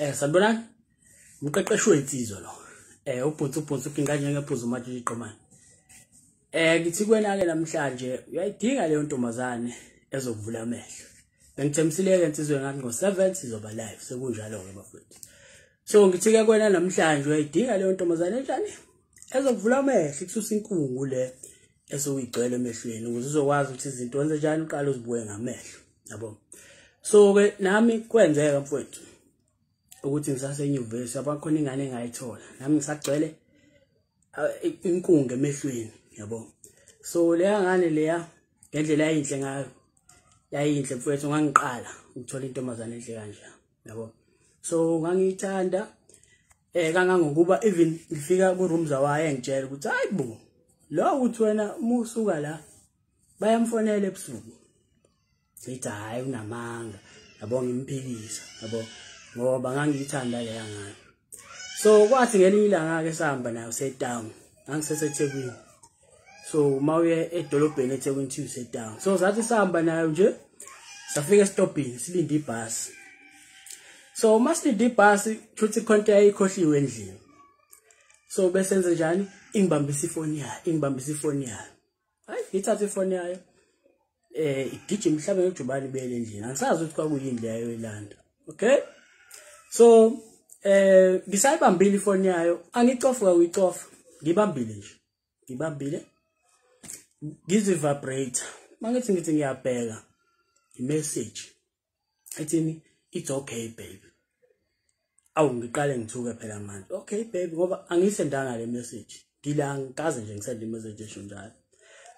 eh sanibonani umqeqeshi wensizwa lo eh ubhunsi ubhunsi ukinga njengephuzu manje iqomani eh ngithi kwena ke namhlanje uyayidinga leyo ntombazane ezokuvula amehlo bengithembisile ke insizwe ngathi ngo 7 sizoba live sekunjalo ke bafethu so ngithi ke kwena namhlanje uyayidinga leyo ntombazane njani ezokuvula amehlo ikususa inkungu le esuyigcwele emehlweni ukuze uzokwazi ukuthi izinto wenze njani uqala uzibuke ngamehlo yabo so ke nami kwenzeka mfowethu ukuthi ngisasenyuvesi abakhona ingane engayithola nami ngisagcwele inkunga emehlweni yabo so leya ngane leya ngendlela yayinhle ngayo yayinhle mfowethu ngangiqala ukuthola intombazane enhle kanje yabo so ngangiyithanda eh kangangokuba even ngifika ku room zawaye ngitshela ukuthi hayibo lo uthi wena musuka la bayamfonela ebusuku ngithi hhayi unamanga yabo ngimphikisa yabo ngoba ngangiyithanda leya ngane so kwathi ngelinye ilanga-ke sihamba nayo setown ngangisesethekwini so uma uye edolobheni ethekwini thiwu setown so sathi sihamba nayo nje safika esitobhini silinde ibhasi so uma silinde ibhasi kushuthi ikhonto yayikhohliwe endlini so besenze njani ingibambisa ifoni yayo ingibambisa ifoni yayo hayi ngithathe ifoni yayo eh igijima mhlawumbe ngejubane ibele endlini angisazi ukuthi kwakuyini leyo ilanda okay so eh ngisayibambile ifoni yayo angicofuka uyicofa ngibambile nje ngibambile ngizivibrate mangithi ngithi ngiyabheka imessage ethini it's okay baby awu ngiqale ngithuke phela manje okay baby ngoba angisendanga le message ngila ngikaze nje ngisende imessage esho njalo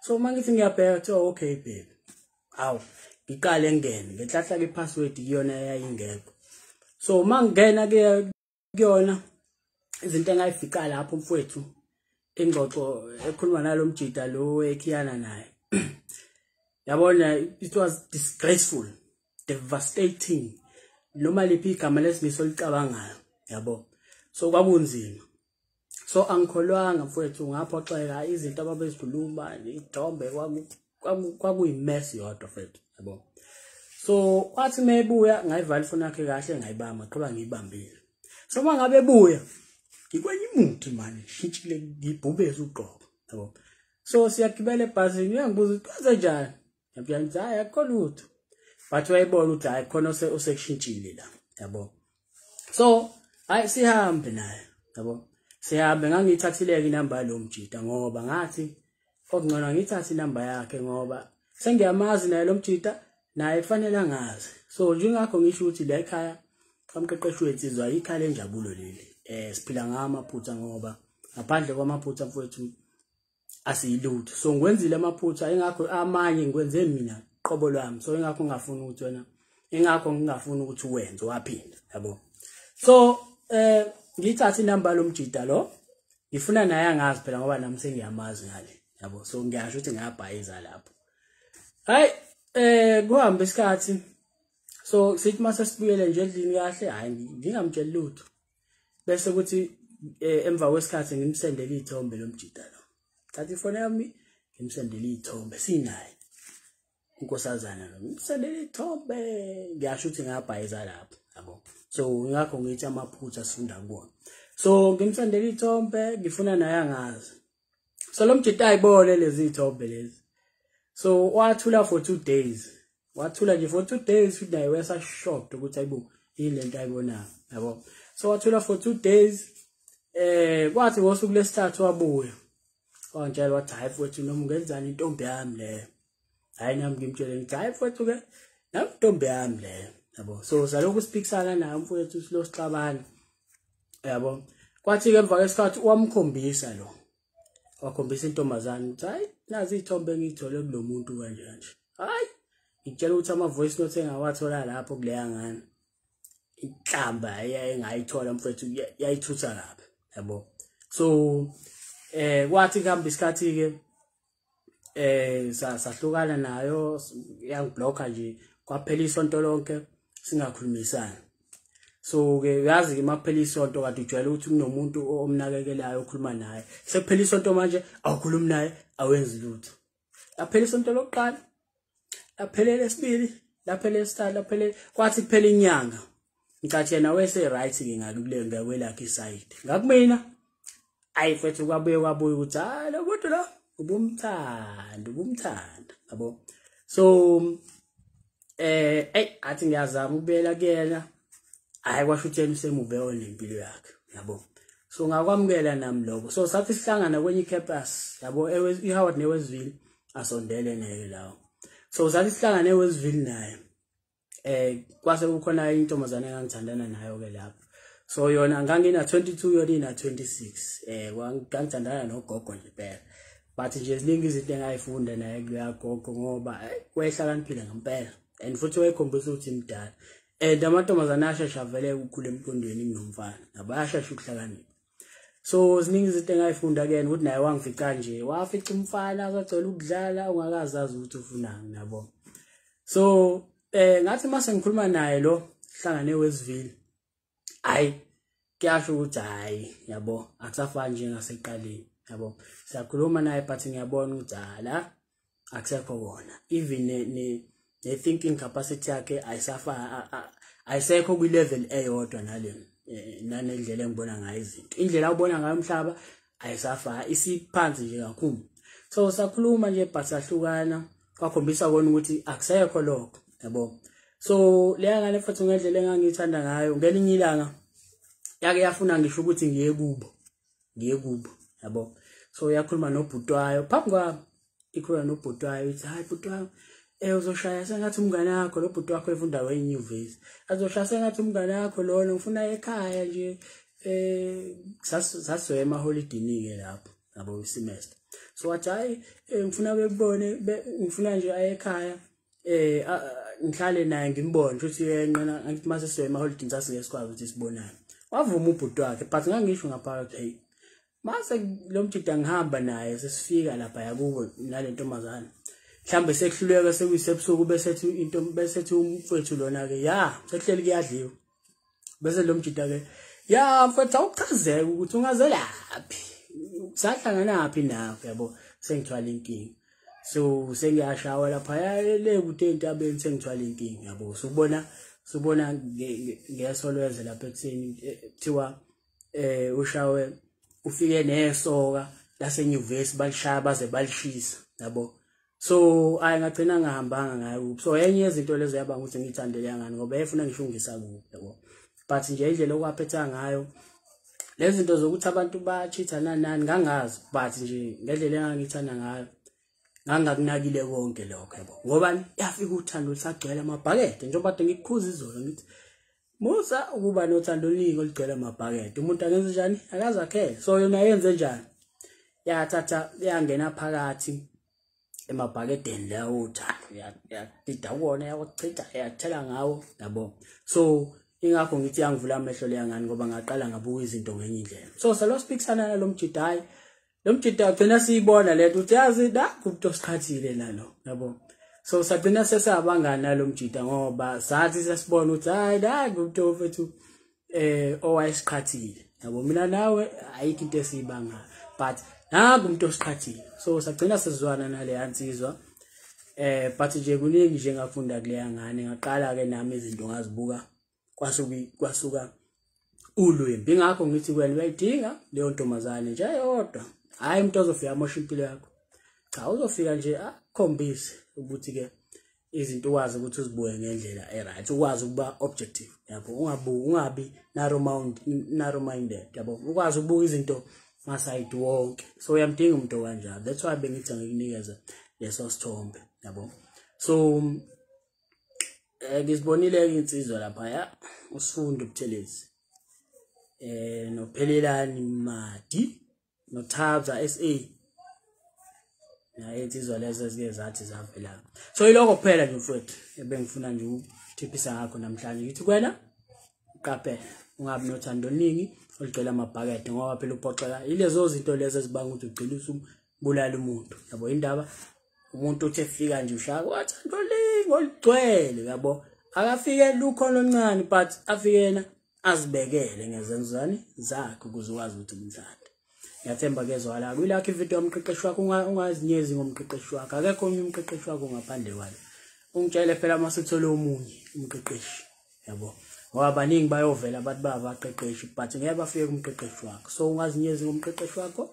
so uma ngithi ngiyabheka kuthiwa okay baby awu ngiqale ngene ngenhlahla ke password iyona eyayingekho so uma ngingena ke kuyona izinto engayifica lapho mfowethu ingxoxo ekhuluma nalo mjida lo ekhiyana naye yabona it was disgraceful devastating noma liphi igama lesimiso licabangayo yabo so kwakunzima so angikholwanga mfowethu ngaphoxeka izinto ababezikhuluma ithombe kwakuyi-mess yodwa fethu yabo so kwathi uma ebuya ngayivala ifoni yakhe kahle ngayibamba qhuba ngiyibambile so uma ngabe ebuya ngikwenye imuthi mani ngishintshile ngibhubeze ugqobo yabo so siyagibela ebhasini uyangibuza ukuthi kwenze njani yabona ukuthi hayi akukho lutho but wayebona ukuthi hayi khona osekushintshile la yabo so hayi sihambe naye yabo sihambe ngangiyithathileke inamba yalo mjita ngoba ngathi okungcono ngithathe inamba yakhe ngoba sengiyamazi naye lo mjita naye kufanele angazi so njengakho ngisho ukuthi la ekhaya kamqeqeshi wethu izwa ikhaya lenjabulo leli eh siphila ngamaphutha ngoba ngaphandle kwamaphutha mfowethu asiyilutho so ngikwenzile amaphutha ingakho amanye ngikwenze mina qobo lwami so ingakho ngingafuni ukuthi wena ingakho ngingafuni ukuthi uwenze waphinda yabo so eh ngithatha inamba lomjida lo ngifuna naye angazi phela ngoba nami sengiyamazi ngale yabo so ngiyasho ukuthi ngiyabhayiza lapho hayi eh kuhambe isikhathi so sithi mase sibuyele nje endlini kahle hayi ngingamtsheli lutho bese kuthi eh, emva kwesikhathi ngimsendele izithombe lomjita lo thatha ifone yami ngimsendele izithombe sinaye unkosazana lo ngimsendele izithombe ngiyasho ukuthi ngabhayiza lapho yabo so ngakho ngithi amaphutha sifunda kuwona so ngimsendele izithombe ngifuna naye angazi so lo mjita ayibone lezi thombe lezi so wathula for two days wathula nje for two days futhi naye wesa shocked ukuthi ayibo yini lento ayibonayo yabo so wathula for two days eh kwathi ngosuku lesithathu wabuya wangitshela wathi hayi futhi noma ungenzani intombi yami leyo hayi nami ngimtshele ngithi hayi mfowethu ke nami ntombi yami leyo yabo so salokhu siphikisana naye mfowethu silo sixabana yabo kwathi ke emva kwesikhathi wamkhombisa lo wakhombisa intombazane ukuthi hayi nazi iy'thombe engiyithole kulo muntu kanje kanje hayi ngitshela ukuthi ama-voice note engawathola lapho kuleya ngane inhlamba engayithola mfowethu yayithutha kabi yabo so eh kwathi kuhamba isikhathi-ke eh sahlukana nayo yangiblocka nje kwaphela isonto lonke singakhulumisani so ke uyazi ke makuphela isonto kade ujwayele ukuthi kunomuntu omnakekelayo okhuluma naye sekuphela isonto manje awukhulumi naye awenzi lutho yaphela isonto lokuqala laphelele esibili laphelele esithathu laphelele kwathi kuphela inyanga ngicathi yena wese right ke ngakule ngakwelakhe isayidi ngakumina ayi mfethu kwabuye kwabuye ukuthi hayi lo muntu lo ubumthanda ubumthanda yabo so eh ey athi ngiyazama ukubuyela kuyena hayi kwasho ukuthi yena usemuve onempilo yakhe yabo so ngakwamukela nami lokho so sathi sihlangana kwenye icampus yabo eHoward newesville asondele ngeke lawo so sathi sihlangane eWestville naye eh kwase kukhona intombazane engangithandana nayo ke lapho so yona ngangina 22 yona ina 26 eh ngangithandana nogogo nje phela but nje ziningi izinto engayifunda naye kuya gogo ngoba eh, wayehlakaniphile ngempela and futhi wayekhombisa ukuthi imdala and amantombazane ashesha vele ukukhula emqondweni kunomfana nabayashesha ukuhlakanipha so ziningi izinto engayifunda kuyena ukuthi naye wangifica nje wafica umfana kwagcwela ukudlala ongakazazi ukuthi ufunani nabo so eh ngathi mase ngikhuluma naye lo hlangane wesivile hayi kuyasho ukuthi hayi yabo akusafani njengaseqaleni yabo siyakhuluma naye but ngiyabona ukuthi hala akusekho kona even ne, ne, ne thinking capacity yakhe ayisafa ayisekho kwi level eyodwa nale eh, nanendlela engibona ngayo izinto indlela ubona ngayo umhlaba ayisafa isiphansi nje kakhulu so sakhuluma nje but sahlukana kwakhombisa kona ukuthi akusekho lokho yabo so leya ngane futhi ngendlela engangiyithanda ngayo ngelinye ilanga yake yafuna ngisho ukuthi ngiye kubo ngiye kubo yabo so uyakhuluma nobhutwayo phambi kwami ikhuluma nobhutwayo ithi hayi bhutwayo eh uzoshaya sengathi umngane wakho lo bhuti wakho efunda wenyuvesi azoshaya sengathi umngane wakho lona ngifuna ekhaya nje eh saswe ema holidini ke lapho yabo isemester so wathi hayi eh, ngifuna bekubone ngifuna nje ayekhaya eh ngihlale naye ngimbone futhi yenqena ngithi mase siye emaholidini sasike sikwazi ukuthi sibonane wavuma ubhuti wakhe but ngangisho ngaphakathi hey mase lo mjida ngihamba naye sesifika lapha yakubo nale ntombazane mhlambe sekuhluleka sekuyisebusuku bese ethi into bese ethi umfethu lona ke ya sekuhleli kuyadliwa bese lo mjita ke ya mfethu awuchazeke ukuthi ungazelaphi sahlanganaphi nawe yabo sengithwala inkinga so sengiyashawa lapha le kude entabeni sengithwala inkinga yabo so ubona sobona ngeso lweze lapha ekutheni eh, kuthiwa eh ushawe ufike nesoka lasenyuvesi balishaya baze balishisa yabo so ayi ngagcina ngahambanga ngayo so enye yezinto lezo yabanga ukuthi ngiyithandele yangani ngoba yayifuna ngishungisa kubi yabo but nje indlela okwaphetha ngayo lezi zinto zokuthi abantu ba-cheat-a nanani ngangazi but nje ngendlela engangithanda ngayo ngangakunakile konke lokho yabo ngoba yafika uthando lusagcwele amabhakede njengoba kade ngikukhuza izolo ngithi musa ukuba nothando oluningi olugcwele amabhakede umuntu angenze njani akazakhele so yona yenze njani yathatha yangena phakathi emabhakedeni lawo uthando yadida kuwona yakuchitha yathela ngawo yabo so ingakho ngithi yangivula amehlo leya ngani ngoba ngaqala ngabuka izinto ngenye indlela so salo speaksana nalo mjidayi lo mjita ugcina siyibona lento uthi yazi da kubuto sikhathile lalo yabo so sagcina sesabangani nalo mjita ngoba sathi sesibona ukuthi hayi da kubuto mfethu eh owayesikhathile yabo mina nawe ayikho into esiyibanga but naku umuntu osiqhathile so sagcina sizwana nale ansizwa eh but nje kuningi nje ngafunda kuleya ngane ngaqala ke nami izinto ngazibuka kwasuki kwasuka ulwimbi ngakho ngithi wena uyayidinga leyo ntombazane nje yodwa hayi umuntu ozofika amosha impilo yakho cha uzofika nje akhombise ukuthi ke izinto ukwazi ukuthi uzibuke ngendlela eright ukwazi ukuba objective yabo ungabuki ungabi narrow mind narrow minded yabo ukwazi ukubuka izinto masayidi wonke so uyamdinga umuntu okanjalo that's why bengithi ngikunikeza leso sithombe yabo so eh ngisibonile-ke insizwa laphaya usifundo ubuthelezi eh nophelelani madi nothabza sa naye insizwa lezo ezike zathi zavela so yilokho kuphela nje mfowethu ebengifuna nje ukuthiphisa ngakho namhlanje ngithi kwena uqaphele ungabi nothando oluningi olugcwele amabhakede ngoba phela uphoxeka yilezo zinto lezo ezibanga ukuthi ugcina bulala umuntu yabo indaba umuntu uthi efika nje ushaka wathanda olingo ligcwele yabo akafike lukho loncane but afikena azibekele ngezenzani zakhe ukuze ukwazi ukuthi umthanda ngiyathemba kezwala kwilakho ividiyo yomqeqeshi wakho ungazinyezi ngomqeqeshi wakho akekho omnye umqeqeshi wakho ngaphandle kwalo ungitshele phela uma sithole omunye umqeqeshi yabo ngoba baningi bayovela abantu babaqeqeshi but ngeke bafike kumqeqeshi wakho so ungazinyezi ngomqeqeshi wakho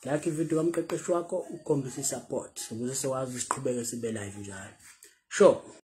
like ividiyo kamqeqeshi wakho ukhombisa i-support ukuze siwazi siqhubeke sibe live njalo sure